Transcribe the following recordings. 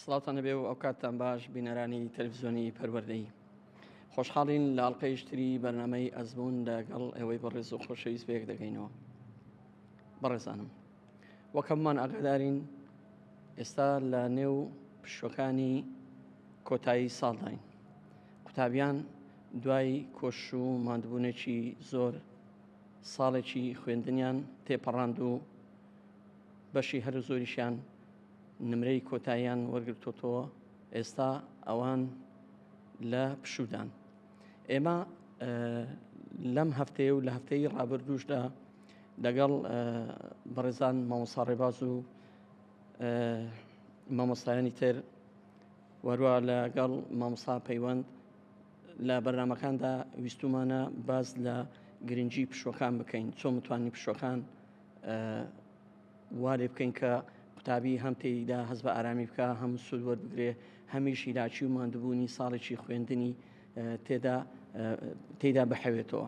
سڵاتان نەبێ و ئەو کاتتان باش بینەرانی تەلویزیۆنی پەروەردەی خۆشحاڵین لە ئەڵلقەیشتری بەرنمەی ئەزمون لەگەڵ ئەوەی بە ڕێز و خۆشەویست بەیەک دەگەینەوە بەڕێزانم وەک هەمووان ئاگادارین ئێستا لە نێو پشوەکانی کۆتایی ساڵداین قوتابیان دوای کۆش و مادبوونێکی زۆر ساڵێکی خوێندنیان تێپەڕاند و بەشی هەرو زۆریشیان نمرەی کۆتاییان وەرگرتۆتەوە ئێستا ئەوان لە پشودان ئێمە لەم هەفتەیە و لە هەفتەی ڕابردوشدا لەگەڵ بەڕێزان مامۆسا ڕێباز و مامۆستایانی تر وەروە لەگەڵ مامۆسا پەیوەند لە بەرنمەکاندا ویستومانە باز لە گرنگجی پشوەکان بکەین چۆن متوانین پشوەکان وا لێ بکەین کە قوتابی هەم تێیدا هەز بە ئارامی بکە هەم سوود وەربگرێ هەمیش هیلاچی و ماندوبوونی ساڵێکی خوێندنی تێدا تێدا بحەوێتەوە.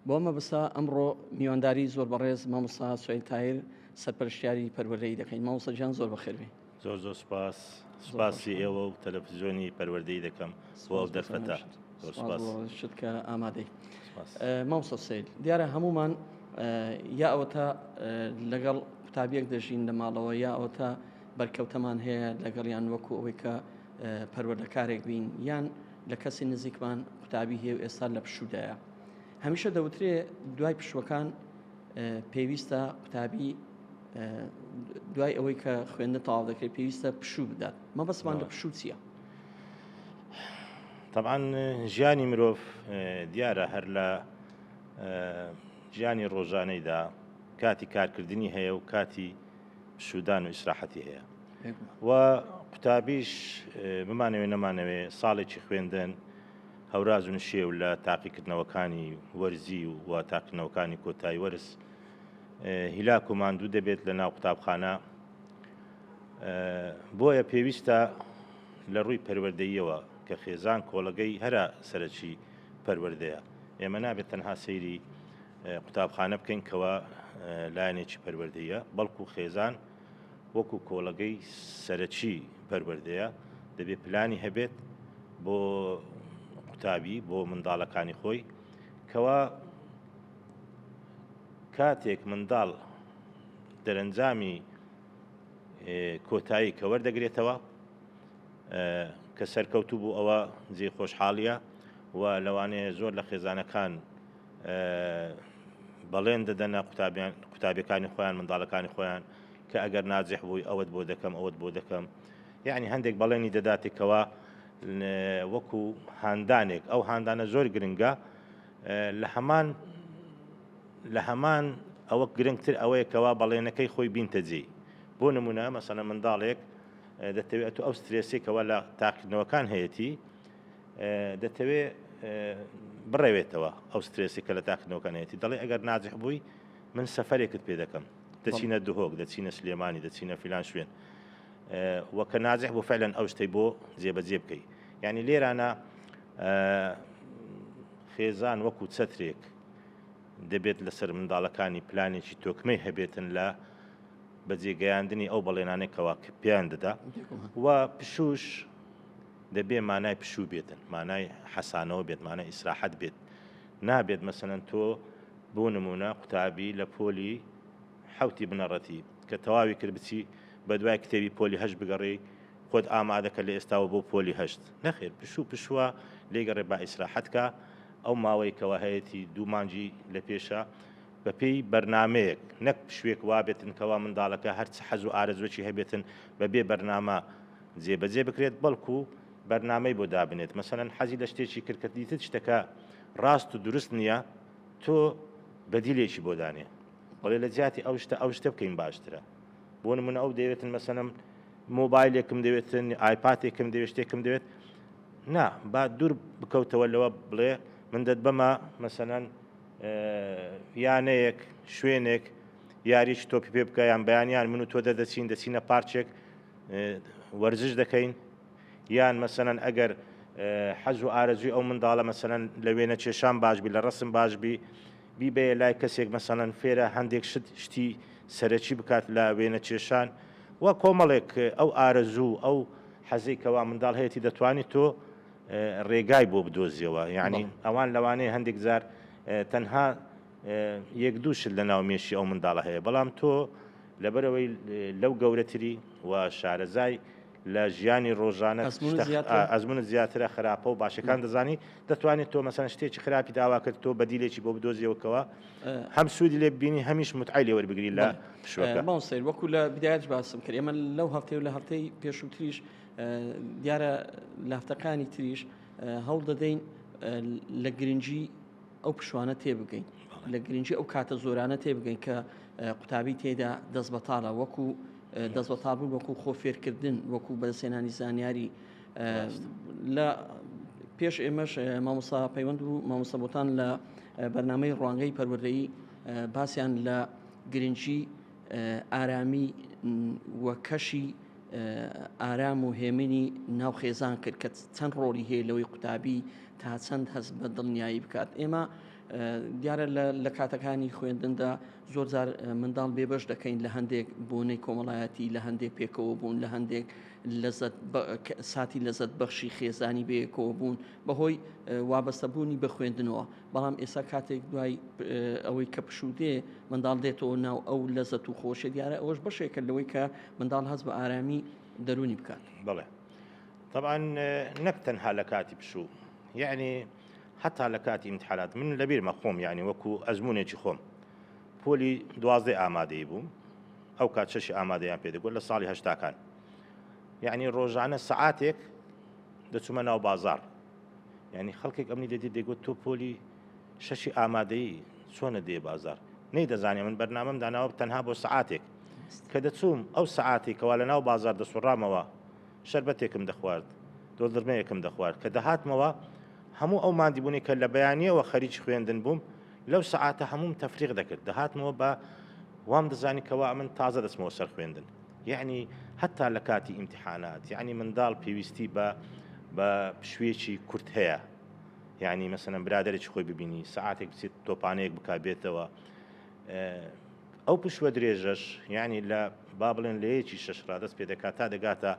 بۆ مەبسا ئەمڕۆ میوانداری زۆر بەڕێز مامۆسا سوێن تایر سەرپەرشتیاری پەروەردەی دەکەین مامۆسا جان زۆر بەخێربێ. زۆر زۆر سوپاس سوپاسی ئێوە و تەلەفزیۆنی پەروەردەی دەکەم بۆ ئەو دەرفەتە زۆر سوپاس بۆ شت کە ئامادەی سوپاس ئە، مامۆستا سید دیارە هەمومان ئە، یا ئەوەتا ئە، لەگەڵ قوتابیەک دەژین لە ماڵەوە یا ئەوەتا بەرکەوتەمان هەیە لەگەڵیان وەکو ئەوەی کە ئە، پەروەردەکارێک بین یان لە کەسی نزیکمان قوتابی هەیە و ئێستا لە پشوودایە هەمیشە دەوترێ دوای پشووەکان پێویستە قوتابی دوای ئەوەی کە خوێندە تاوا دەکرێت پێویستە پشوو بدات مەبەستمان لە پشوو چییە؟ طبعاان ژیانی مرۆڤ دیارە هەر لە ژیانی ڕۆژانەیدا کاتی کارکردنی هەیە و کاتی شودان و ئیسراحەتی هەیە و قوتابیش بمانەوێ نەمانەوێ ساڵێکی خوێندن هەوراز و نشێو لە تاقیکردنەوەکانی وەرزی و تاقیکردنەوەکانی کۆتایی وەرز هیلاک و ماندوو دەبێت لە ناو قوتابخانە بۆیە پێویستە لە ڕووی پەروەردەیەوە کە خێزان کۆڵەگەی هەرە سەرەکی پەروەردەیە ئێمە نابێت تەنها سەیری قوتابخانە بکەین کەەوە لایەنێکی پەروەردەیە بەڵکو خێزان وەکو کۆڵەگەی سەرەکی پەروەردەیە دەبێت پلانی هەبێت بۆ قوتابی بۆ منداڵەکانی خۆی کەوا کاتێک منداڵ دەرەنجامی کۆتایی کە وەردەگرێتەوە کە سەرکەوتوو بوو ئەوە جێ خۆشحاڵیە و لەوانەیە زۆر لە خێزانەکان بەڵێن دەدەنە قوتابیان قوتابەکانی خۆیان منداڵەکانی خۆیان کە ئەگەر ناجح بووی ئەوەت بۆ دەکەم ئەوەت بۆ دەکەم یانی هەندێک بەڵێنی دەداتێک کەوا وەکو هاندانێک ئەو هاندانە زۆر گرنگە لە هەمان لە هەمان ئەوە گرنگتر ئەوەیە کەوا بەڵێنەکەی خۆی بینتەجێی بۆ نمونە مەسەە منداڵێک دەتەوێت ئەو سترێسێکەوە لە تاقیدنەوەکان هەیەی دەتەوێت بڕەوێتەوە ئەو سترێسی کە لە تاقنەوەکانێتی دەڵێ ئەگەر ناجح بووی من سەفرێکت پێ دەکەم دەچینە دهۆک دەچینە سلێمانی دەچینە فیلان شوێن وە کە نازح بۆ فعلەن ئەو شتەی بۆ جێبەجێ بکەیت یعنی لێرانە خێزان وەکو چەترێک دەبێت لەسەر منداڵەکانی پلانێکی تۆکمەی هەبێتن لە بەجێگەیاندنی ئەو بەڵێنانێکەوە کە پێیان دەدا و پشوش دەبێ مانای پشوو بێتن مانای حەسانەوە بێت مانای ئیسراحەت بێت نابێت مەسەلەن تۆ بۆ نموونە قوتابی لە پۆلی حەوتی بنەڕەتی کە تەواوی کرد بچی بەدوای کتێبی پۆلی هەشت بگەڕێی خۆت ئامادەکە لە ئێستاوە بۆ پۆلی هەشت نەخێر پشوو پشووە لێگەڕێ با ئیسراحەتکە ئەو ماوەی کەوا هەیەتی دوو مانجی لە پێشە بەپێی بەرنمەیەک نەک پشوێک وابێتن کەوا منداڵەکە هەرچ حەز و ئارەزوەکی هەبێتن بە بێ بەرنامە جێبەجێ بکرێت بەڵکو بەرنامەی بۆ دابنێت مەسەلەن حەزی لە شتێکی کرد کە دیتت شتەکە ڕاست و دروست نیە تۆ بەدیلێکی بۆ دانێ بڵێ لە جیاتی ئەو شتە ئەو شتە بکەین باشترە بۆ نمونە ئەو دەیەوێتن مەسەلەم مۆبایلێکم دەوێتن ئایپاتێکم دەوێت شتێکم دەوێت نا با دوور بکەوتەوە لەوە بڵێ من دەت بەمە مەسەلەن یانەیەک شوێنێک یاریش تۆپی پێ بکە یان بەیانیان من و تۆ دەردەچین دەچینە پارچێک وەرزش دەکەین یان مەسەەن ئەگەر حەز و ئارەزوی ئەو منداڵە مەسەەن لە وێنە کێشان باشبی لە ڕسم باشبی بیبێ لای کەسێک مەسەەن فێرە هەندێک شت شتی سەرەکی بکات لە وێنە کێشان و کۆمەڵێک ئەو ئارەزوو ئەو حەزی کەوا منداڵ هەیەی دەتوانانی تۆ ڕێگای بۆ بدۆزیەوە یعنی ئەوان لەوانەیە هەندێک جار تەنها یەک دوو شت لە ناو مێشی ئەو منداڵە هەیە بەڵام تۆ لەبەرئەوەی لەو گەورەتری و شارەزای لە ژیانی ڕۆژانە ئەزمونت زیاترە خراپە و باشەکان دەزانی دەتوانێت تۆ مەسەن شتێکی خراپی داوا کرد تۆ بەدیلێکی بۆ بدۆزیەوەکەوە هەم سوودی لێ ببینی هەمیش متعای لێ وەربگری لە پشوەکە ماوسیر وەکو لە بدایەت باسم کرد ئێمە لەو هەفتەی و لە هەفتەی پێشووتریش دیارە لە هەفتەکانی تریش هەوڵ دەدەین لە گرنگی ئەو پشوانە تێبگەین لە گرنگی ئەو کاتە زۆرانە تێبگەین کە قوتابی تێدا دەست بەتاالە وەکو دەست بە تابوو وەکو خۆ فێرکردن وەکو بەسێنانی زانیاری لە پێش ئێمەش مامۆسا پەیوەند و مامۆسەبتان لە بەرنمەی ڕوانگەی پەروەردەی باسییان لە گرنگی ئارامی و کەشی ئارام و هێمنی ناو خێزان کرد کە چەند ڕۆڵی هەیە لەوەی قوتابی تا چەند هەست بە دڵنیایی بکات ئێمە دیارە لە کاتەکانی خوێندندا زۆر جار منداڵ بێبەش دەکەین لە هەندێک بۆنەی کۆمەڵایەتی لە هەندێک پێکەوە بوون لە هەندێک لەزت ساتی لەزت بەخشی خێزانی بەیەکەوە بوون بەهۆی وابەستەبوونی بە خوێندنەوە بەڵام ئێستا کاتێک دوای ئەوەی کە پشوو دێ منداڵ دێتەوە ناو ئەو لەزەت و خۆشە دیارە ئەوەش بەشێکە لەوەی کە منداڵ هەز بە ئارامی دەرونی بکات بڵێ طبعا نەک تەنها لە کاتی پشوو یعنی حتا لە کاتی امتحانات من لەبیرمە خۆم یعنی وەکو ئەزمونێکی خۆم پۆلی دوازدە ئامادەی بووم ئەو کات چەشی ئامادەیان پێدەگوت لە ساڵی هەشتاکان یعنی ڕۆژانە سعاتێک دەچوومە ناو بازار یعنی خەڵکێک ئەمنی دەدی دەگوت تۆ پۆلی شەشی ئامادەیی چۆنە دێ بازار نەی دەزانێ من بەرنامەم داناوە تەنها بۆ سعاتێک کە دەچووم ئەو سعاتی کەوا لە ناو بازار دەسوڕامەوە شربەتێکم دەخوارد دۆدرمەیەکم دەخوارد کە دەهاتمەوە هەموو ئەو مادیبوونی کە لە بەیانیەوە خەریج خوێندن بووم لەو سعاتە هەموم تەفریق دەکرد دەهاتمەوە بە وام دەزانی کەوا من تازە دەستمەوە سەر خوێندن یەعنی هەتا لە کاتی ئیمتیحانات یەعنی منداڵ پێویستی بە بە پشویەکی کورت هەیە یعنی مەسەن برادێکی خۆی ببینی سعاتێک بچێت تۆپانەیەک بک بێتەوە ئەو پشوە درێژەش یعنی لە با بڵێن لە یەکی شش ڕادست پێ دەکات تا دەگاتە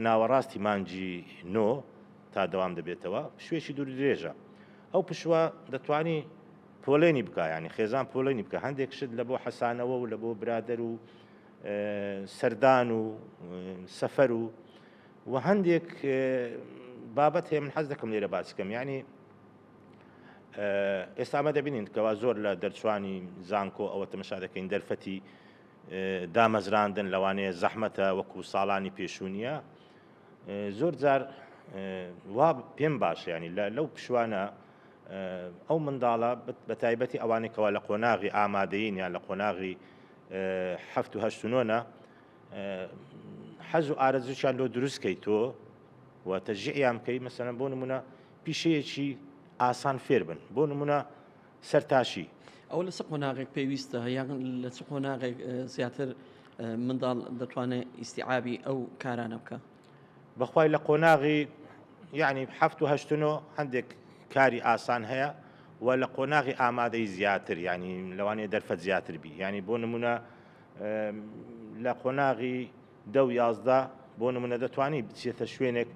ناوەڕاستی مانجی نۆ تا دەوام دەبێتەوە پشوێکی دوور درێژە ئەو پشوە دەتوانی پۆلێنی بکە یانی خێزان پۆلێنی بکە هەندێک شت لە بۆ حەسانەوە و لە بۆ برادەر و سەردان و سەفەر و و هەندێک بابەت هەیە من حەز دەکەم لێرە باسکەم یعنی ئێستا ئەمە دەبینین کەوا زۆر لە دەرچوانی زانکۆ ئەوە تەمەشا دەکەین دەرفەتی دامەزراندن لەوانەیە زەحمەتە وەکو ساڵانی پێشوونیە زۆر جار وا پێم باشە ینی لەو پشوانە ئەو منداڵە بە تایبەتی ئەوانەی کەوا لە قۆناغی ئامادەین یان لە قۆناغی هەفت و هەشت نۆە حەز و ئارەزوشان لۆ دروستکەی تۆ و تەژیان بکەی مەسەن بۆ نمونە پیشەیەکی ئاسان فێر بن بۆ نمونە سەرتاشی. ئەوە لە چ قۆناغێک پێویستە یان لە چ قۆناغێک زیاتر منداڵ دەتوانێت ئیسیعابی ئەو کارانە بکە بەخوای لە قۆناغی یعنی هەفت و هەشتنۆ هەندێک کاری ئاسان هەیە و لە قۆناغی ئامادەی زیاتر ینی لەوانەیە دەرفەت زیاتر بی ینی بۆ نمونە لە قۆناغی دە و یازدە، بۆ نمونە دەتوانی بچیتە شوێنێک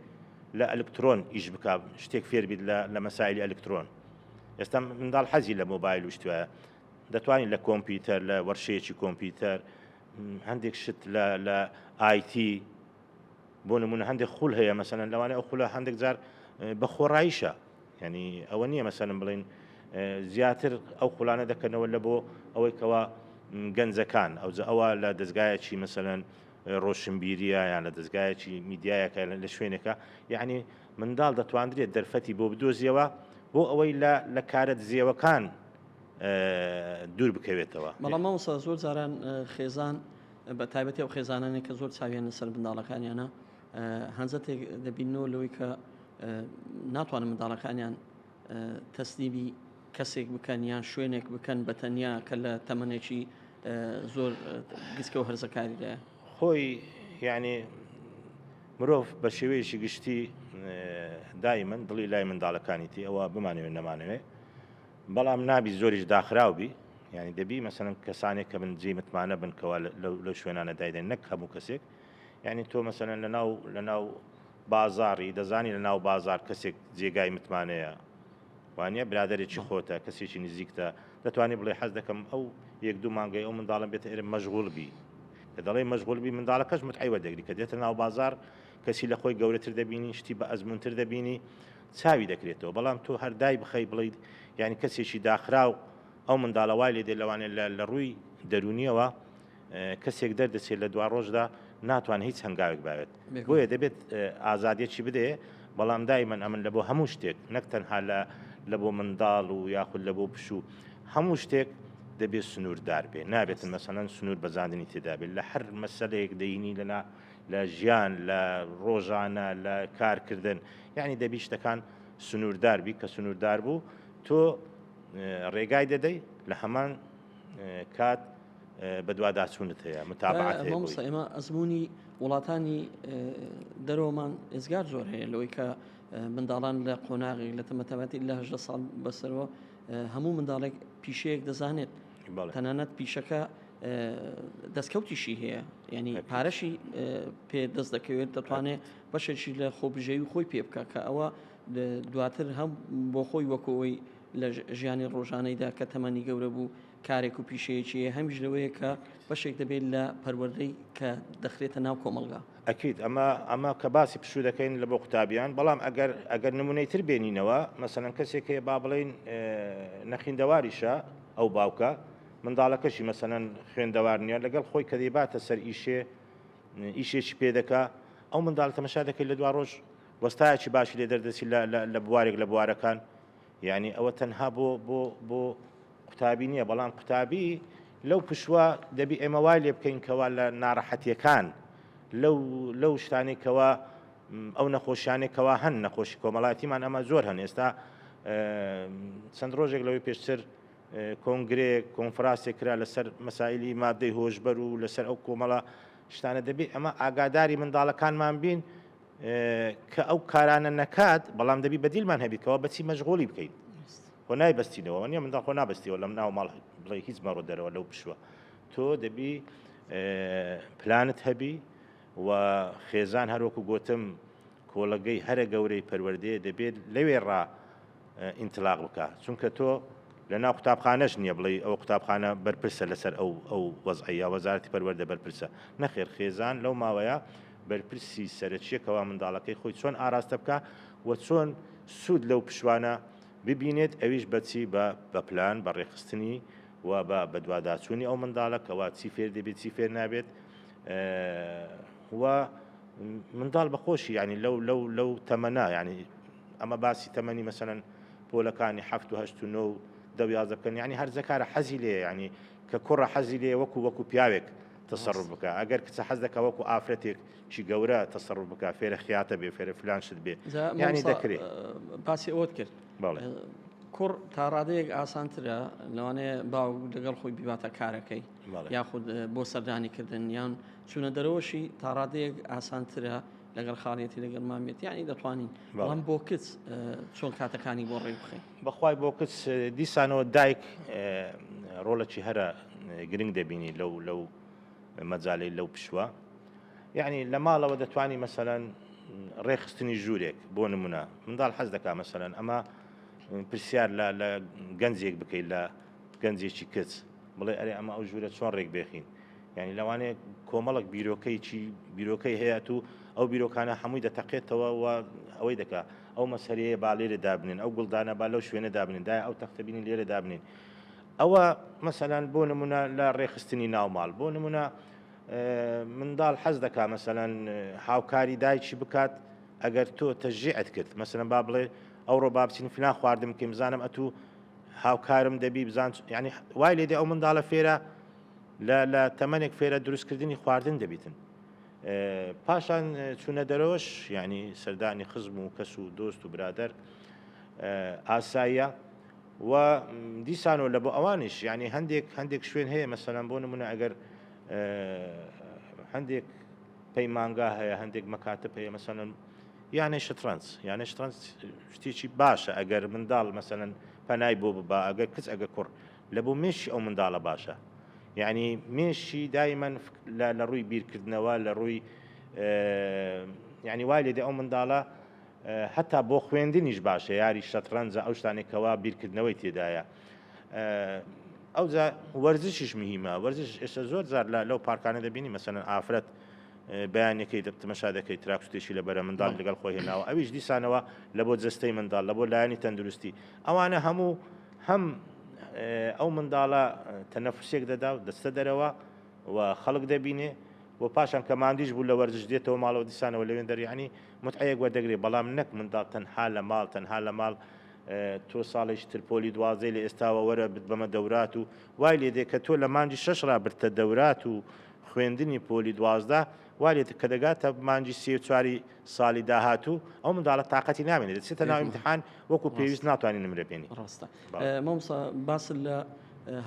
لە ئەلکترۆن ئیش بکا شتێک فێر بیت لە لە مەسایلی ئەلکترۆن ئێستا منداڵ حەزی لە مۆبایل و شتوایە دەتوانین لە کۆمپیوتەر لە وەرشەیەکی کۆمپیوتەر هەندێک شت لە لە ئایتی بۆ نمونە هەندێک خول هەیە مەسەن لەوانێ ئەو خولە هەندێک جار بە خۆڕاییشە یانی ئەوە نییە مەسەن بڵین زیاتر ئەو قولانە دەکەنەوە لە بۆ ئەوەی کەوا گەنجەکان ئەوجە ئەوە لە دەستگایەکی مەسەن ڕۆشنبیریە یان لە دەستگایەکی میدیایەکە لە شوێنەکە یعنی منداڵ دەتواندرێت دەرفەتی بۆ بدۆزیەوە بۆ ئەوەی لە لە کارە دزێوەکان دوور بکەوێتەوە بەڵام مامۆستا زۆر جاران خێزان بە تایبەتی ئەو خێزانانێک کە زۆر چاویان لەسەر منداڵەکانیانە هەنجەتێک دەبینەوە لەوەی کە ناتوانن منداڵەکانیان تەسلیبی کەسێک بکەن یان شوێنێک بکەن بە تەنیا کە لە تەمەێکی زۆر گسکە و هەرزەکاریدا خۆی یعنی مرۆڤ بە شێوەیەشی گشتی دای من دڵی لای منداڵەکانیتی ئەوە بمانەوێت نەمانەوێ بەڵام نابی زۆریش داخراو بی ینی دەبی مەسەن کەسانێک کە بنجی متمانە بنکەوە لە شوێنانە دایدەن نەک هەموو کەسێک یانی تۆ مەسەلەن لەناو لەناو بازاڕی دەزانی لە ناو بازار کەسێک جێگای متمانەیە وانە برادێکی خۆتە کەسێکی نزیکتە دەتوانانی بڵێ حەز دەکەم ئەو یەک دوو مانگەی ئەو منداڵم بێت ئێرە مەژغول بی کە دەڵێ مەژغولبی منداڵە کەس متعیوە دەگری کە دێتە ناو بازار کەسی لە خۆی گەورەتر دەبینی شتی بە ئەزمونتر دەبینی چاوی دەکرێتەوە بەڵام تۆ هەردای بخەی بڵیت یعنی کەسێکی داخراو ئەو منداڵەوای لێ دێ لەوانێت لە ڕووی دەرونیەوە کەسێک دەردەچێت لە دواڕۆژدا ناتوانێت هیچ هەنگاوێک باوێت بۆیە دەبێت ئازادیەکی بدێ بەڵام دایمەن ئەمن لە بۆ هەموو شتێک نەک تەنها لە لە بۆ منداڵ و یاخود لە بۆ پشوو هەموو شتێک دەبێت سنووردار بێ نابێتن مەسەەن سنوور بەزاندنی تێدابێت لە هەر مەسلەیەک دەینی لەنا لە ژیان لە ڕۆژانە لە کارکردن یعنی دەبی شتەکان سنووردار بی کە سنووردار بوو تۆ ڕێگای دەدەی لە هەمان کات بەدواداچوونت هەیە متابعەت هەیە مامۆستا ئێمە ئەزموونی وڵاتانی دەرەوەمان ئێزگار زۆر هەیە لەوەی کە منداڵان لە قۆناغی لە تەمەتەمەتی لە هەژدە ساڵ بەسەرەوە هەموو منداڵێک پیشەیەک دەزانێت تەنانەت پیشەکە دەستکەوتیشی هەیە ینی پارەشی پێ دەست دەکەوێت دەتوانێت بەشێکی لە خۆبژێوی خۆی پێ بکە کە ئەوە دواتر هەم بۆ خۆی وەکەوەی لە ژیانی ڕۆژانەیدا کە تەمەنی گەورە بوو کارێک و پیشەیەکی هەیە هەمیش لەوەیە کە بەشێک دەبێت لە پەروەردەی کە دەخرێتە ناو کۆمەڵگا ئەکید ئەمە ئەمە کە باسی پشوو دەکەین لە بۆ قوتابیان بەڵام ئەگەر ئەگەر نمونەی تر بێنینەوە مەسەن کەسێک هەیە با بڵین نەخیندەواریشە ئەو باوکە منداڵەکەشی مەسەەن خوێندەوار نیە لەگەڵ خۆی کە دەیباتە سەر ئیشێ ئیشێکی پێدەکە ئەو منداڵ تەمەشا دەکەیت لە دو ڕۆژ وەستایەکی باشی لێ دەردەچی لە بوارێک لە بوارەکان یانی ئەوە تەنها بۆ بۆ بۆ قوتابی نییە بەڵام قوتابی لەو پشوە دەبی ئێمە وای لێ بکەین کەوا لە ناڕەحەتیەکان لەو لەو شتانی کەوا ئەو نەخۆشیانێکەوە هەن نەخۆشی کۆمەڵاتیمان ئەمە زۆر هەن ئێستا چەند ڕۆژێک لەوەی پێشتر کۆنگرێک کۆنفراسێک کرا لەسەر مەسایلی مادەی هۆشبەر و لەسەر ئەو کۆمەڵە شتانە دەبێت ئەمە ئاگاداری منداڵەکانمان بین کە ئەو کارانە نەکات بەڵام دەبی بەدیلمان هەبی کەەوە بەچی مەشغۆلی بکەیت خۆ نای بەستینەوە نیە مندا خۆ نابستیەوە لەم ناو ماڵ بڵێ هیچ مەڕۆ دەرەوە لەو پشوە تۆ دەبی پلانت هەبی و خێزان هەروەکو گوتم کۆڵەگەی هەرە گەورەی پەروەردێ دەبێت لەوێ ڕا ئینتلاق بکە چونکە تۆ لە ناو قوتابخانەش نییە بڵێ ئەو قوتابخانە بەرپرسە لەسەر ئەو ئەو وەزعەیە وەزارتی پەروەەردە بەرپرسە نەخێر خێزان لەو ماوەیە بەرپرسی سەرەکیە کەوا منداڵەکەی خۆی چۆن ئاراستە بکا و چۆن سود لەو پشوانە ببینێت ئەویش بە چی بە بە پلان بە ڕێکخستنی و بە بەدواداچوونی ئەو منداڵە کەوا چی فێر دەبێت چی فێر نابێت و منداڵ بە خۆشی ینی لەو لەو لەو تەمەنا ینی ئەمە باسی تەمەنی مەسەن پۆلەکانی هەفت و هەشت و نۆ دەویازەکەن ینی هەرزەکارە حەزی لێ ینی کە کوڕە حەزی لێ وەکو وەکو پیاوێک تەسەڕوف بکا ئەگەر کچە حەز دەکا وەکو ئافرەتێک چی گەورە تەسەڕوف بکا فێرە خیاتە بێ فێرە فلان شت بێ جا یانی مامۆستا، دەکرێ ئە، باسی ئەوەت کرد بەڵێ کوڕ تاڕادەیەک ئاسانترە لەوانەیە باوک لەگەڵ خۆی بیباتە کارەکەی بەڵێ. یاخود ئە، بۆ سەردانی کردن یان چوونە دەرەوەشی تاڕادەیەک ئاسانترە لەگەڵ خاڵێتی لەگەڵ مامێتی یانی دەتوانین بەڵێ. بەڵام بۆ کچ ئە، چۆن کاتەکانی بۆ ڕێک بخەین بەخوای بۆ کچ دیسانەوە دایک ڕۆڵەکی هەرە گرنگ دەبینی لەو لەو مەجالەی لەو پشوە یعنی لە ماڵەوە دەتوانی مەسەەن ڕێخستنی ژوورێک بۆ نمونە منداڵ حەز دەکا مەسەەن ئەمە پرسیار لە لە گەنجێک بکەیت لە گەنجێکی کچ بڵێ ئەرێ ئەمە ئەو ژوورە چۆن ڕێک بێخین یانی لەوانەیە کۆمەڵک بیرۆکەیی بیرۆکەی هەیەات و ئەو بیرۆکانە هەمووی دەتەقێتەوە و ئەوەی دەکا ئەو مەسەرەیە با لێرە دابنین ئەو گوڵدانە با لەو شوێنە دابنین دا ئەو تەختەبینی لێرە دابنین ئەوە مەسەلاەن بۆ نمونە لە ڕێخستنی ناوماڵ بۆ نمونە منداڵ حەز دەکا مەسەەن هاوکاری دایکی بکات ئەگەر تۆ تەژیعت کرد مەسەن با بڵێ ئەو ڕۆ بابچین فلان خواردم کەم زانم ئەتوو هاوکارم دەبی بزان ینی وای لێدە ئەو منداڵە فێرە لە لە تەمەنێک فێرە دروستکردنی خواردن دەبیتن. پاشان چوونە دەرەوەش یعنی سەردانی خزم و کەس و دۆست و برادەر ئاساییە و دیسانەوە لە بۆ ئەوانش یعنی هەندێک هەندێک شوێن هەیە مەسەلەن بۆ نمونە ئەگەر هەندێک پەیمانگا هەیە هەندێک مەکاتە پێ مەسەن یانەی شترەنج یانە شترەنج شتێکی باشە ئەگەر منداڵ مەسەن پەنای بۆ ببا ئەگەر کچ ئەگە کوڕ لە بۆ مێشکی ئەو منداڵە باشە یعنی مێشی دایمەن لە ڕووی بیرکردنەوە لە ڕووی یعنی وای لێدە ئەو منداڵە هەتا بۆ خوێندنیش باشە یاری شەتڕەنجە ئەو شتانێکەوە بیرکردنەوەی تێدایە ئەو وەرزشیش مهمە وەرزش ئێستا زۆر زار لە لەو پارکانە دەبینی مەسەن ئافرەت بەیانەکەی دەتمەشا دەکەی تراکسوتێکی لە بەرە منداڵ لەگەڵ خۆی هێناوە ئەویش دیسانەوە لە بۆ جستەی منداڵ لە بۆ لایەنی تەندروستی ئەوانە هەموو هەم ئەو منداڵە تەنەفوسێک دەدا و دەچتە دەرەوە و خەڵک دەبینێ و پاشان کە ماندیش بوو لە وەرزش دێتەوە ماڵەوە دیسانەوە لەوێن دەر یەعنی موتعەیەک وەردەگرێ بەڵام نەک منداڵ تەنها لە ماڵ تەنها لە ماڵ تۆ ساڵێکی تر پۆلی دوازدەی لە ئێستاوە وەرە بتبەمە دەورات و وای لێ دێ کە تۆ لە مانگی شەش ڕا برتە دەورات و خوێندنی پۆلی دوازدە وا لێ دێ کە دەگاتە مانگی سێ و چواری سالی داهاتوو ئەو منداڵە تااقەتی نامێنێت دەچێتە ناو امتحان وەکو پێویست ناتوانین نمرە بێنی ڕاستە مامسا باس لە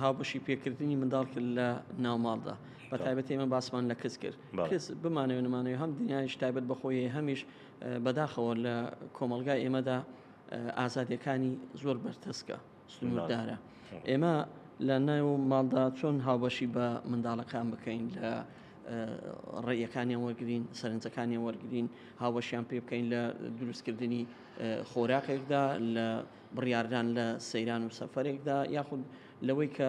هاوبەشی پێکردنی منداڵ کرد لە ناوماڵدا بە تایبەت ئێمە باسمان لە کەس کرد کەس بمانەوە نمانەوە هەم دنیایش تایبەت بەخۆی هەمیش بەداخەوە لە کۆمەلگای ئێمەدا ئازادەکانی زۆر بەرتەسکە سنووردارە. ئێمە لە ناو ماڵدا چۆن هاوبەشی بە منداڵەکان بکەین لە ڕێیەکانیان وەرگین سەرنجەکانیان وەرگین هاوەشیان پێ بکەین لە دروستکردنی خۆراکێکدا لە بڕاردان لە سەیران و سەفرێکدا یاخود لەوەی کە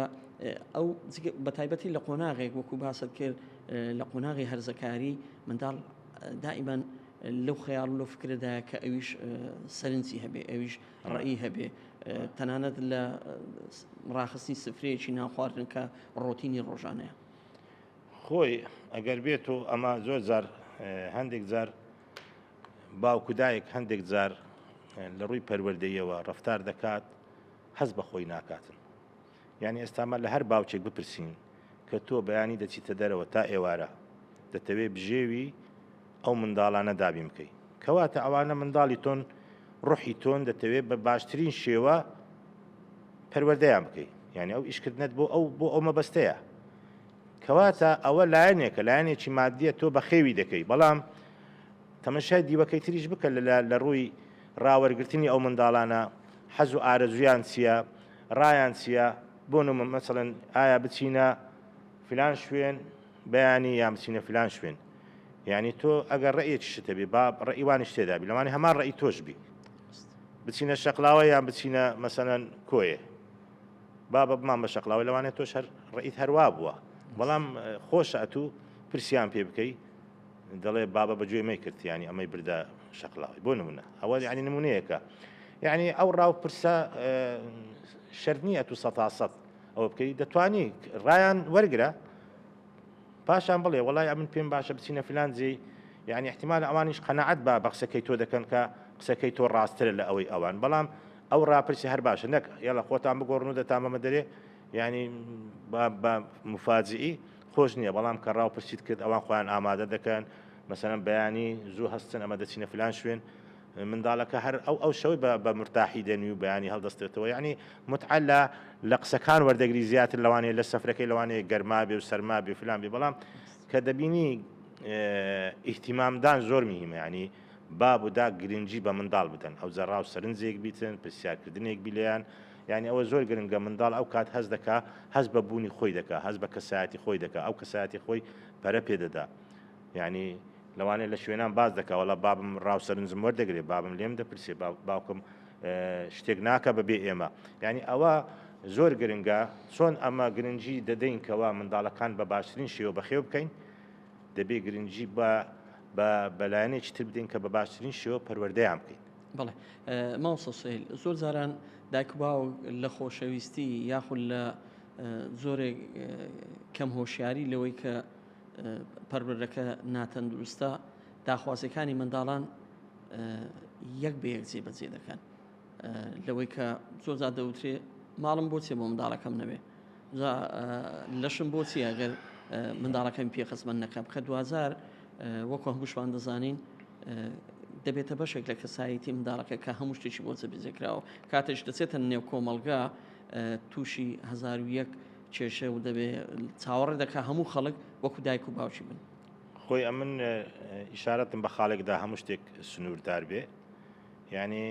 ئەو بە تایبەتی لە قۆناغێک وەکو باست کرد لە قۆناغی هەرزەکاری منداڵ دائیمان لەو خەیاڵ لە فکرەدا کە ئەویش سەرنجی هەبێ ئەویش ڕێی هەبێ تەنانەت لە ڕاخستنی سفرەیەکی نان خواردن کە ڕۆتینی ڕۆژانەیە. خۆی ئەگەر بێت و ئەمە زۆر جار هەندێک جار باوک و دایک هەندێک جار لە ڕووی پەروەردەیەوە ڕفتار دەکات هەست بە خۆی ناکاتن یانی ئێستا مە لە هەر باوکێک بپرسین کە تۆ بەیانی دەچیتە دەرەوە تا ئێوارە دەتەوێ بژێوی ئەو منداڵانە دابین بکەی کەواتە ئەوانە منداڵی تۆن ڕوحی تۆن دەتەوێ بە باشترین شێوە پەروەردەیان بکەی یعنی ئەو ئیشکردنت بۆ ئەو بۆ ئەو مەبەستەیە کەواتە ئەوە لایەنێکە لایەنێکی مادیە تۆ بەخێوی دەکەی بەڵام تەمەشای دیوەکەی تریش بکە لە لە ڕووی ڕاوەرگرتنی ئەو منداڵانە حەز و ئارەزویان چییە ڕایان چیە بۆ نمومە مەسەلەن ئایا بچینە فلان شوێن بەیانی یان بچینە فلان شوێن یانی تۆ ئەگەر ڕێیەکی شتە بێ با ڕێی وانیش تێدا بی لەوانی هەمان ڕێی تۆش بی بچینە شەقلاوە یان بچینە مەسەلەن کۆیە با بە بمان بە شەقلاوە لەوانێت تۆش هەر ڕئیت هەروا بووە بەڵام خۆش ئەتوو پرسیان پێ بکەی دەڵێ بابە بە گوێی مەیکرد یانی ئەمەی بردە شەقلاوی بۆ نمونە ئەوە یعنی نمونەیەکە یعنی ئەو ڕاو پرسە شەرت نییە تو سەتاسەد ئەوە بکەی دەتوانی ڕایان وەرگرە پاشان بڵێ وڵای ئەمن پێم باشە بچینە فلان جێ یعنی احتمال ئەوانیش قەنەعەت با بە قسەکەی تۆ دەکەن کە قسەکەی تۆ ڕاستترە لە ئەوەی ئەوان بەڵام ئەو ڕاپرسی هەر باشە نەک یاڵە خۆتان بگۆڕن و دەتامەمە دەرێ یعنی مفاجئی خۆش نیە بەڵام کە ڕاو پرسیت کرد ئەوان خۆیان ئامادە دەکەن مەسەلەن بەیانی زوو هەستن ئەمە دەچینە فلان شوێن منداڵەکە هەر ئەو ئەو شەوەی بە بە مرتاحی دەنوی و بەیانی هەڵدەستێتەوە یعنی متعە لە لە قسەکان وەردەگری زیاتر لەوانەیە لە سەفرەکەی لەوانەیە گەرما بێ و سەرما بێ فلان بێ بەڵام کە دەبینی ئیهتیمامدان زۆر مهمە یعنی باب و داک گرنگی بە منداڵ بدەن ئەوجە ڕاو سەرنجێک بیتن پرسیارکردنێک بی لێیان یانی ئەوە زۆر گرنگە منداڵ ئەو کات هەست دەکا هەست بە بوونی خۆی دەکا هەست بە کەسایەتی خۆی دەکا ئەو کەسایەتی خۆی پەرە پێ دەدا یانی لەوانێ لە شوێنان باز دەکا وەڵا بابم ڕاو سەرنجم وەردەگرێ بابم لێم دەپرسێ باوکم شتێک ناکە بە بێ ئێمە یانی ئەوە زۆر گرنگە چۆن ئەمە گرنگی دەدەین کەوا منداڵەکان بە باشترین شێوە بەخێو بکەین دەبێ گرنگی بە بە بەلایەنێکی تر بدەین کە بە باشترین شێوە پەروەردەیان بکەین بەڵێ مامۆستا سوهیل زۆر جاران دایک و باوک لە خۆشەویستی یاخود لە زۆرێک کەم هۆشیاری لەوەی کە پەروەردەکە ناتەندروستە داخوازیەکانی منداڵان یەک بە یەک جێبەجێ دەکەن لەوەی کە زۆرجا دەوترێ ماڵم بۆچێ بۆ منداڵەکەم نەبێ لەشم بۆچی ئەگەر منداڵەکەم پێخزمەت نەکەم کە دوزار وەکو هەمووشمان دەزانین دەبێتە بەشێک لە کەسایەتی منداڵەکە کە هەموو شتێکی بۆ جەبیجەکراوە کاتێش دەچێتە نێو کۆمەلگا تووشی هزار و یەک کێشە و دەبێ چاوەڕێ دەکا هەموو خەڵک وەکو دایک و باوکی بن خۆی ئەمن ئیشارەتم بە خاڵێکدا هەموو شتێک سنووردار بێ یعنی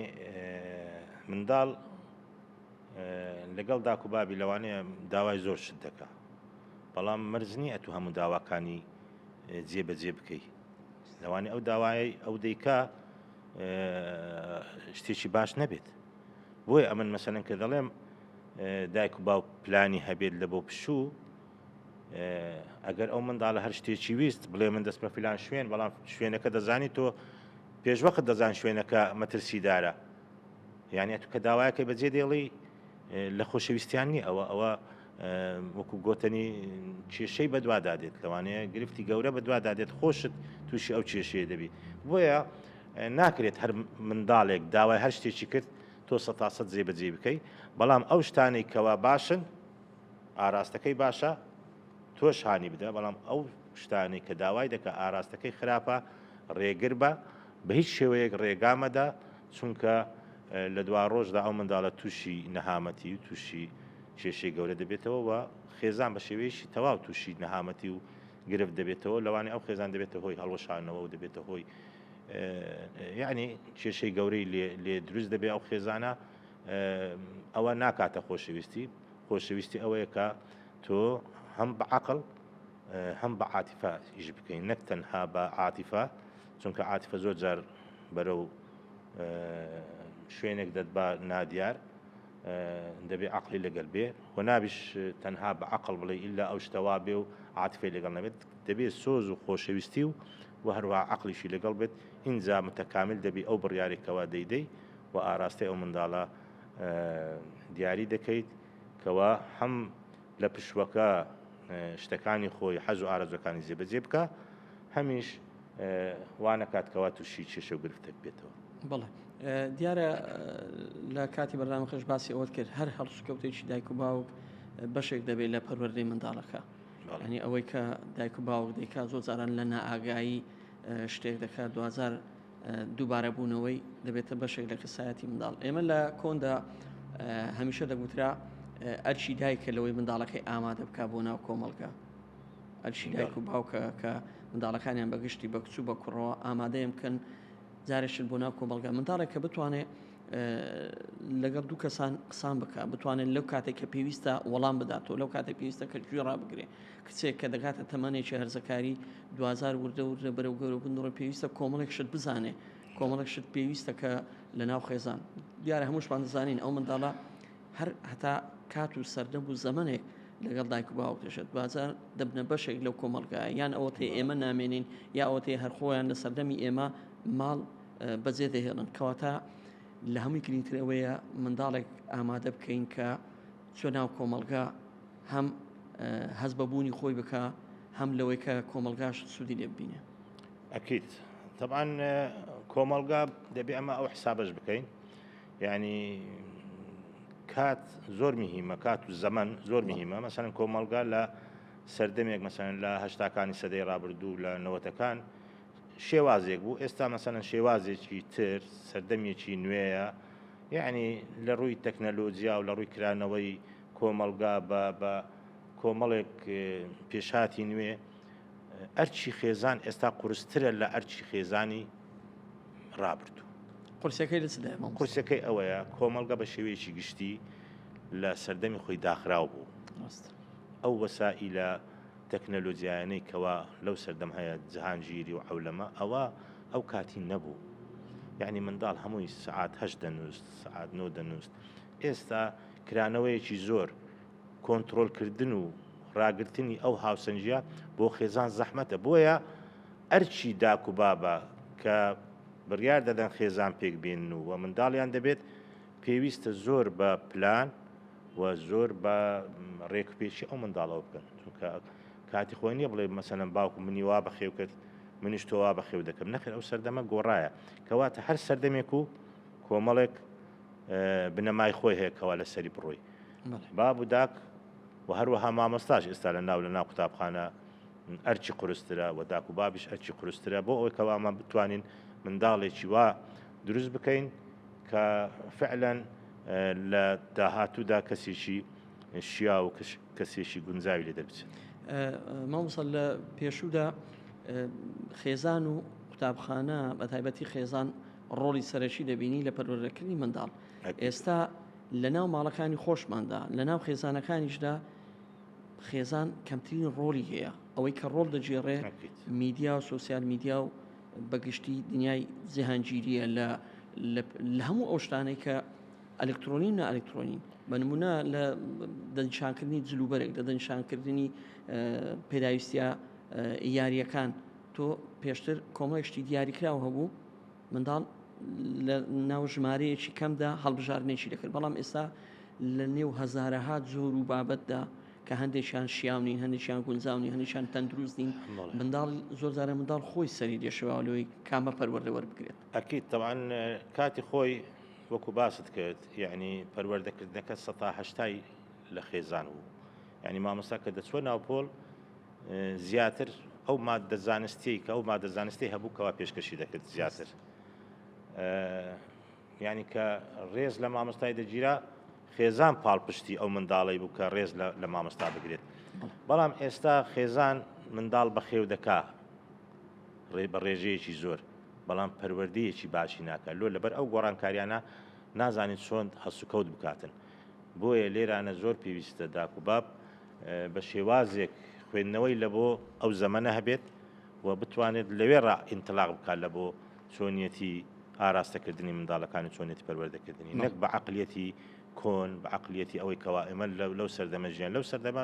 منداڵ لەگەڵ داکوبابی لەوانەیە داوای زۆر شت دەکە بەڵام مەرزنی ئەتو هەموو داواکانی جێ بە جێ بکەی لەوانی ئەو داوایەی ئەو دەیکا شتێکی باش نەبێت بۆیە ئەمن مەسەن کە دەڵێم دایک و باو پلانی هەبێت لە بۆ پشوو ئەگەر ئەو منداڵە هەر شتێکی ویست بڵێ من دەست بە فلان شوێن بەڵام شوێنەکە دەزانی تۆ پێشوەخت دەزان شوێنەکە مەترسیدارە یانە تو کە داوایەکە بەجێ دێڵی لە خۆشەویستیان نیە ئەوە ئەوە وەکو گۆتەنی کێشەی بەدوادا دێت لەوانەیە گرفتی گەورە بەدوادا دێت خۆشت تووشی ئەو کێشەیە دەبی بۆیە ناکرێت هەر منداڵێک داوای هەر شتێکی کرد تۆ سە تاسە جێ بەجێ بکەی بەڵام ئەو شتانەی کەوا باشن ئاراستەکەی باشە تۆش هاانی بدە بەڵام ئەو شتانەی کە داوای دەکە ئاراستەکەی خراپە ڕێگر بە بە هیچ شێوەیەک ڕێگامەدا چونکە لە دوا ڕۆژدا ئەو منداڵە تووشی نەهامەتی و تووشی کێشەی گەورە دەبێتەوە و خێزان بە شێوەیەکی تەواو تووشی نەهامەتی و گرفت دەبێتەوە، لەوانەیە ئەو خێزان دەبێتە هۆی هەڵوەشانەوە و دەبێتە هۆی یانی کێشەی گەورەی لێ دروست دەبێت ئەو خێزانە ئەوە ناکاتە خۆشەویستی خۆشەویستی ئەوەیە کە تۆ هەم بە عقل هەم بە عاتیفە ئیش بکەین نەک تەنها بە عاتیفە چونکە عاتیفە زۆر جار بەرەو شوێنێک دەت بە نادیار دەبێ عەقڵی لەگەل بێ و نابیش تەنها بە عەقڵ بڵێ ئیلا ئەو شتە وا بێ و عاتفەی لەگەڵ نەبێت دەبێ سۆز و خۆشەویستی و و هەروها عەقڵیشی لەگەڵ بێت ئینجا متەکامیل دەبی ئەو بڕیارێک کەوا دەیدەی و ئاراستەی ئەو منداڵە دیاری دەکەیت کەوا هەم لە پشوەکە شتەکانی خۆی حەز و ئارەزوەکانی جێبەجێ بکە هەمیش وانەکات کەوا تووشی کێشە و گرفتێک بێتەوە. بەڵێ دیارە لە کاتی بەرنامەکەش باسی ئەوەت کرد هەر هەڵسوکەوتێکی دایک و باوک بەشێک دەبێت لە پەروەردەی منداڵەکە ینی ئەوەی کە دایک و باوک دەیکا زۆر جاران لە نائاگایی شتێک دەکات دوزار دووبارە بوونەوەی دەبێتە بەشێک لە کەسایەتی منداڵ ئێمە لە کۆندا هەمیشە دەگوترا ئەرچی دایکە لەوەی منداڵەکەی ئامادە بک بۆ ناو کۆمەڵگە ئەرکی دایک و باوکە کە منداڵەکانیان بە گشتی بە کچ و بە کوڕەوە ئامادەیان بکەن جارێک چن بۆ ناو کۆمەڵگا منداڵێک کە بتوانێت لەگەڵ دوو کەسان قسان بکە بتوانێت لەو کاتێک کە پێویستە وەڵام بداتەوە لەو کاتێک پێویستە کە گوێ ڕابگرێ کچێک کە دەگاتە تەمانێکی هەرزەکاری دوزار وردە وردە بەرەو گەورە بنڕۆ پێویستە کۆمەڵێک شت بزانێ کۆمەڵێک شت پێویستە کە لە ناو خێزان دیارە هەمووشمان دەزانین ئەو منداڵە هەر هەتا کات و سەردەم و زەمەنێک لەگەڵ دایک و باوکتشت بازە دەبنە بەشێک لەو کۆمەڵگایە یان ئەوەتەی ئێمە نامێنین یا ئەوەتەی هەرخۆیان لە سەردەمی ئێمە ماڵ بەجێ دەهێڵن کەواتە لە هەمووی گرنگترەوەیە منداڵێک ئامادە بکەین کە چۆ ناو کۆمەڵگا هەم هەز بەبوونی خۆی بکە هەم لەوەی کە کۆمەلگاش سوودی لێ ببینێ ئەکییت تەبان کۆمەلگا دەبێ ئەمە ئەو حسابش بکەین یانی کات زۆر مهمە کات و زەمن زۆر مهمە مەسەن کۆمەلگا لە سەردەمێک مەسەن لە هەشتاکانی سەدەی ڕابردوو لە نەوەتەکان شێوازێک بوو ئێستا مەسەن شێوازێکی تر سەردەمێکی نوێیە یعنی لە ڕووی تەکنەلۆجیا و لە ڕووی کرانەوەی کۆمەلگا بە بە کۆمەڵێک پێشاتی نوێ ئەرچی خێزان ئێستا قورسترە لە ئەرچی خێزانی ڕابردوو. قورسەکەی لە چ دایە مامۆستا؟ قورسەکەی ئەوەیە کۆمەڵگە بە شێوەیەکی گشتی لە سەردەمی خۆی داخراو بوو. ڕاستە. ئەو وەسائیلە تەکنەلۆجیایانەی کەوا لەو سەردەم هەیە جهانگیری و عەولەمە ئەوە ئەو کاتی نەبوو. یانی منداڵ هەمووی سەعات هەشت دەنووست، سەعات نۆ دەنووست. ئێستا کرانەوەیەکی زۆر کۆنترۆلکردن و ڕاگرتنی ئەو هاوسەنگییە بۆ خێزان زەحمەتە، بۆیە ئەرکی داک و بابە کە بڕیار دەدەن خێزان پێک بێنن و منداڵیان دەبێت، پێویستە زۆر بە پلان و زۆر بە ڕێکوپێکی ئەو منداڵەوە بکەن، چونکە کاتی خۆی نییە بڵێ مەسەلەن باوکم منی وا بەخێو کرد، منیش تۆ وا بەخێو دەکەم، نەخێر ئەو سەردەمە گۆڕایە، کەواتە هەر سەردەمێک و کۆمەڵێک بنەمای خۆی هەیە کەوا لەسەری بڕۆی. باب و داک و هەروەها مامۆستاش ئێستا لە ناو لە ناو قوتابخانە ئەرچی قورسترە و داک و بابیش ئەرچی قورسترە بۆ ئەوەی کەوامان بتوانین منداڵێکی وا دروست بکەین کە فعلەن لە داهاتوودا کەسێکی شیا و کەسێکی گونجاوی لێ دەربچێت مامسەل لە پێشوودا خێزان و قوتابخانە بە تایبەتی خێزان ڕۆڵی سەرەکی دەبینی لە پەروەردەکردنی منداڵ ئێستا لە ناو ماڵەکانی خۆشماندا، لە ناو خێزانەکانیشدا خێزان کەمترین ڕۆڵی هەیە، ئەوەی کە ڕۆڵ دەگێڕێ میدیا و سوسیال میدیا و بە گشتی دنیای جیهانگیریە لە لە هەموو ئەو شتانەی کە ئەلکترۆنی و نائەلکترۆنی بە نمونە لە دەنشانکردنی جلوبەرێک لە دەنشانکردنی پێداویستە یاریەکان تۆ پێشتر کۆمەڵێک شتی دیاریکراو هەبوو منداڵ لە ناو ژمارەیەکی کەمدا هەڵبژاردنێکی دەکرد بەڵام ئێستا لە نێو هەزارەها جۆر و بابەتدا کە هەندێکیان شیاونین هەندێکیان گونجاونی هەندێکیان تەندروست نین منداڵ زۆر جارە منداڵ خۆی سەری دێشەوەلوی کامە پەروەردە وەربگرێت ئەکییت تەوان کاتی خۆی وەکو باست کرد یعنی پەروەردەکردنەکە سەتاهشتای لە خێزان بوو یانی مامۆستا کە دەچووە ناو پۆل زیاتر ئەو مادە زانستیی کە ئەو مادە زانستی هەبوو کەوا پێشکەشی دەکرد زیاتر یانی کە ڕێز لە مامۆستای دەگیرا خێزان پاڵپشتی ئەو منداڵی بوو کە ڕێز لە مامۆستا بگرێت بەڵام ئێستا خێزان منداڵ بەخێو دەکا ڕێ بە ڕێژەیەکی زۆر بەڵام پەروەردەیەکی باشی ناکە لۆ لەبەر ئەو گۆڕانکاریانە نازانین چۆن هەسوکەوت بکاتن بۆیە لێرانە زۆر پێویستە داک و باب بە شێوازێک خوێندنەوەی لە بۆ ئەو زەمەنە هەبێت و بتوانێت لەوێڕا ئینتلاق بکات لە بۆ چۆنیەتی ئاراستەکردنی منداڵەکان و چۆنێتی پەروەردەکردنی نەک بە عەقلیەتی کۆن بە عەقلیەتی ئەوەی کەوا ئێمە لەو سەردەمە ژیان لەو سەردەمە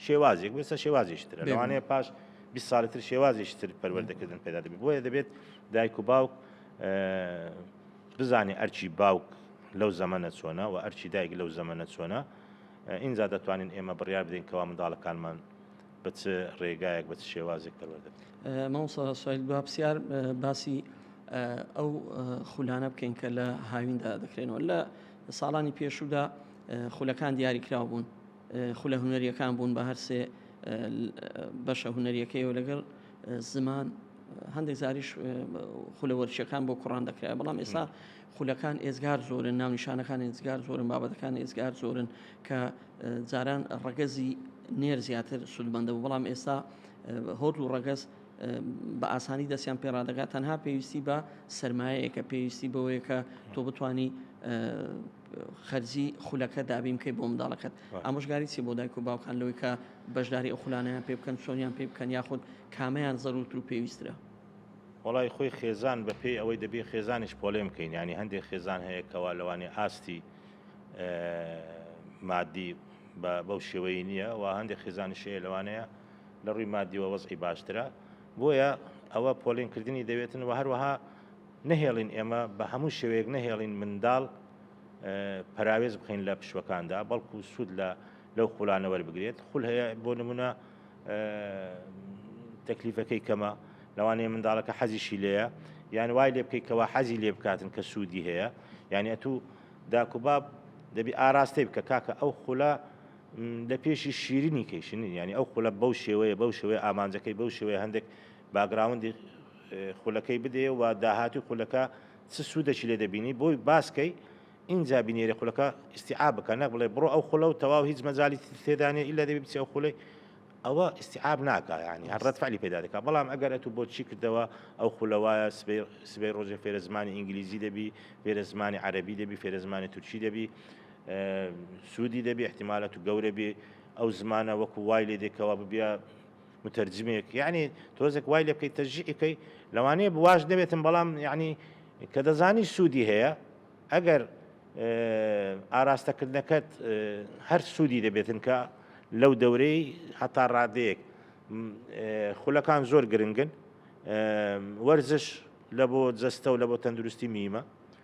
شێوازێک بێسە شێوازیش ترە لەوانەیە پاش بی ساڵی تر شێوازیش تر پەروەردەکردن پێدا دەبێت بۆیە دەبێت دایک و باوک بزانێ ئەرکی باوک لەو زەمەنە چۆنە و ئەرکی دایک لەو زەمەنە چۆنە، ئینجا دەتوانین ئێمە بڕیار بدەین کەوا منداڵەکانمان بە چ ڕێگایەک بە چ شێوازێک پەروەردە بکەین. مامۆستا سوید با پسیار باسی ئەو خولانە بکەین کە لە هاویندا دەکرێنەوە لە ساڵانی پێشوودا خولەکان دیاری کراو بوون خولە هونەرییەکان بوون بە هەر سێ بەشە هونەرییەکەی و لەگەڵ زمان هەندێک زاریش خولە وەرچەکان بۆ کوڕان دەکرای بەڵام ئێستا خولەکان ئێزگار زۆرن ناونیشانەکان ئێزگار زۆرن بابەتەکان ئێزگار زۆرن کە جاران ڕەگەزی نێر زیاتر سوودمەندە و بەڵام ئێستا هۆت و ڕەگەز بە ئاسانی دەستیان پێڕادەگات تەنها پێویستی بە سرمایەیەکە پێویستی بەوەیەکە تۆ بتانی خەرجی خولەکە دابین بکەیت بۆ منداڵەکەت ئامۆژگاری چی بۆ دایک و باوکان لەوەی کە بەشداری ئەو خولانەیان پێ بکەن چۆنیان پێ بکەن یاخود کامەیان زەروتر و پێویسترە؟ وەڵای خۆی خێزان بە پێی ئەوەی دەبێ خێزانیش پۆلێن بکەین یانی هەندێک خێزان هەیە کەوا لەوانێ ئاستی مادی بەو شێوەی نییە و هەندێک خێزانیش هەیە لەوانەیە لە ڕووی مادیوە وەزعی باشترە بۆیە ئەوە پۆلێنکردنی دەوێتن و هەروەها نەهێڵین ئێمە بە هەموو شێوەیەک نەهێڵین منداڵ پەراوێز بخەین لە پشوەکاندا بەڵکو سوود لە لەو خولانە وەربگرێت خول هەیە بۆ نمونە تەکلیفەکەی کەمە لەوانەیە منداڵەکە حەزیشی لێە یان وای لێ بکەیت کەوا حەزی لێ بکاتن کە سوودی هەیە یعنی ئەتو داکوباب دەبی ئاراستەی بکە کاکە ئەو خولە لە پێشی شیرنی کەیشنی ینی ئەو خولە بەو شێوەیە بەو شێوەیە ئامانجەکەی بەو شێوەیە هەندێک باگراوندی خولەکەی بدێ و داهاتووی خولەکە چ سوودەکی لێ دەبینی بۆی باس کەی ئینجا بینێری خولەکە ئیستیعاب بکە نەک بڵێ بڕۆ ئەو خولە و تەواو هیچ مەجالی تر تێدا نیە ئیلا دەبی بچی ئەو خولەی ئەوە ئیستیعاب ناکا یانی هەر ڕەد فعلی پەیدا دەکا بەڵام ئەگەر ئەتوو بۆت چی کردەوە ئەو خولە وایە سبەی سبەی ڕۆژێ فێرە زمانی ئینگلیزی دەبی فێرە زمانی عەرەبی دەبی فێرە زمانی تورکی دەبی سوودی دەبی احتیمال ئەتوو گەورە بی ئەو زمانە وەکوو وای لێ دێ کەوا ببیە مترجمێک یعنی تۆزێک وای لێ بکەیت تەشجیعی کەی لەوانەیە بواش نەبێتم بەڵام یعنی کە دەزانی سوودی هەیە ئەگەر ئاراستەکردنەکەت هەر سوودی دەبێتن کە لەو دەورەی هەتا ڕادەیەک خولەکان زۆر گرنگن وەرزش لە بۆ جەستە و لە بۆ تەندروستی میمە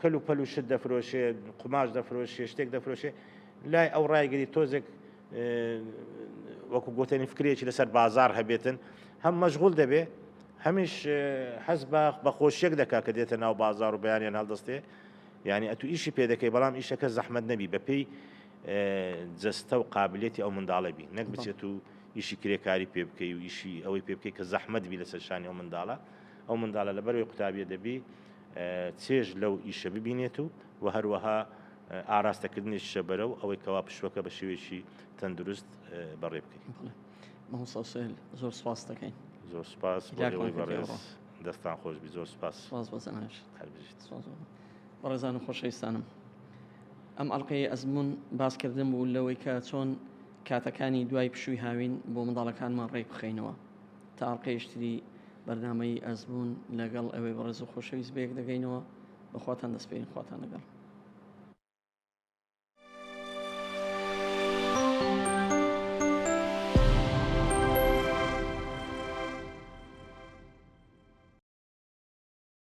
کەل و پەل و شت دەفرۆشێ قوماش دەفرۆشێ شتێک دەفرۆشێ لای ئەو ڕایگەری تۆزێک وەکو گوتنی فکرێکی لەسەر بازار هەبێتن هەم مەشغول دەبێ هەمیش حەز بە بەخۆشیەک دەکا کە دێتە ناو بازار و بەیانیان هەڵدەستێ یعنی ئەتو ئیشی پێ دەکەی بەڵام ئیشەکە زەحمت نەبی بەپی جەستە و قابلێتی ئەو منداڵە بی نەک بچێت و ئیشی کرێکاری پێ بکەی و ئیشی ئەوەی پێ بکەی کە زەحمت بی لەسەر شانی ئەو منداڵە ئەو منداڵە لەبەرەوەی قوتابیە دەبی چێژ لەو ئیشە ببینێت و وە هەروەها ئاراستە کردنیشە بەرەو ئەوەی کەوا پشوەکە بە شێوێکی تەندروست بەڕێ بکەین مەسەسێل زۆر سپاس دەکەین زۆر سپاس بەڕێز دەستان خۆش بی زۆر سپاس سپاس بۆ زەناش هەربژیت سپاس بەڕێزان و خۆشەویستانم ئەم ئەڵلقەی ئەزمون باسکردن بوو لەوەی کە چۆن کاتەکانی دوای پشووی هاوین بۆ منداڵەکانمان ڕێک بخەینەوە تا ئەڵقەیش تری بەرنامەی ئەزموون لەگەڵ ئێوەی بەڕێز و خۆشەویست بەیەک دەگەینەوە بەخواتان دەسپێرین خواتان لەگەڵ.